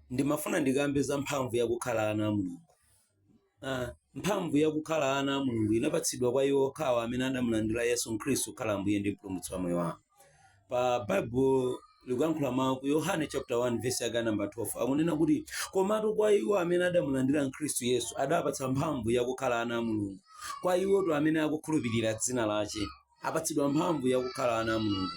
ndimafuna ndikambe za mphamvu yakukhala ana a mulungu Ah, mphamvu yakukhala ana a mulungu inapatsidwa kwa iwo okhawo amene adamulandira yesu khristu kukhala ambuye ndi mpulumutsi wa moyo wawo pa bible likuyankhula mawu ku yohane chapter 1 verse yake namba 12 akunena kuti komatu kwa iwo amene adamulandira mkhristu yesu adapatsa mphamvu yakukhala ana a mulungu kwa iwoto amene akukhulupirira dzina lache apatsidwa mphamvu yakukhala ana a mulungu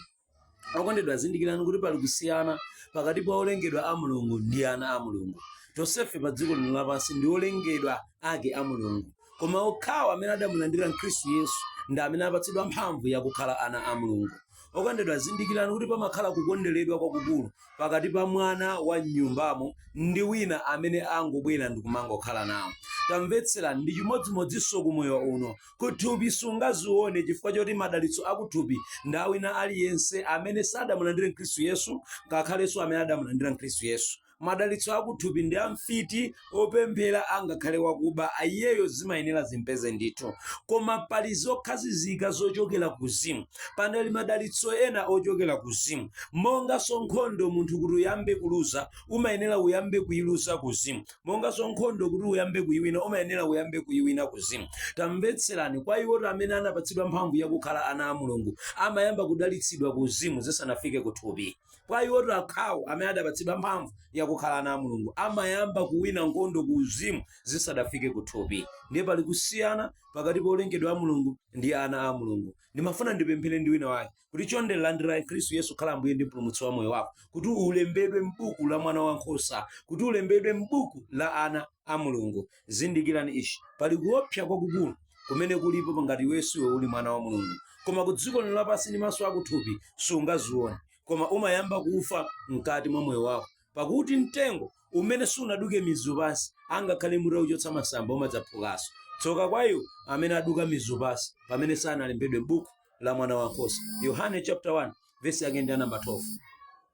okondedwa zindikirani kuti pali kusiyana pakati pa olengedwa a mulungu ndi ana a mulungu tonsefe pa dziko lino lapansi ndi olengedwa ake a mulungu koma okhawo amene adamulandira mkhristu yesu ndi amene apatsidwa mphamvu yakukhala ana a mulungu okondedwa zindikirani kuti pamakhala kukonderedwa kwakukulu pakati pa mwana wa m'nyumbamo ndi wina amene angobwera ndi kumangokhala nawo. Tamvetserani, ndi chimodzimodzinso ku moyo uno. Kuthupi sungazione chifukwa choti madalitso akuthupi ndi a wina aliyense amene sadamulandire Mkhristu Yesu ngakhalenso amene adamulandira Mkhristu Yesu. Madalitso akuthupi ndi a mfiti, opemphera angakhale wakuba iyeyo zimayenera zimpeze ndithu koma pali zokhazikika zochokera kuzimu panali madalitso ena ochokera kuzimu monganso nkhondo munthu kuti uyambe kuluza umayenera uyambe kuyiluza kuzimu monganso nkhondo kuti uyambe kuyiwina umayenera uyambe kuyiwina kuzimu tamvetserani kwa iwoto amene anapatsidwa mphamvu yakukhala ana a mulungu amayamba kudalitsidwa kuzimu zisanafike kuthupi kwa iwotu okhawo amene adapatsidwa mphamvu yakukhala ana a mulungu amayamba kuwina nkhondo ku uzimu zisadafike ku thupi ndiye pali kusiyana pakati pa olengedwa a mulungu ndi ana a mulungu ndimafuna ndipemphere ndi wina wake kuti chonde landira khristu yesu akhale ambuye ndi mpulumutsi wa moyo wako kuti ulembedwe m'buku la mwana wankhosa kuti ulembedwe m'buku la ana a Mulungu. Zindikirani ichi, pali kuopsa kwakukulu kumene kulipo pa ngati iweyo siwe uli mwana wa Mulungu. Koma ku dziko lino lapansi ndi maso akuthupi sungazione, koma umayamba kufa mkati mwa moyo wako. Pakuti mtengo umene sunaduke mizu pansi, angakhale mutakuchotsa masamba umadzaphukanso. Tsoka kwa iwo amene aduka mizu pansi pamene sanalembedwe m'buku la Mwana wa Nkhosa. Yohane chapter 1 verse yake ndi ya namba 12.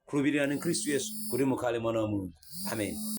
Khulupirirani Khristu Yesu kuti mukhale mwana wa Mulungu. Amen.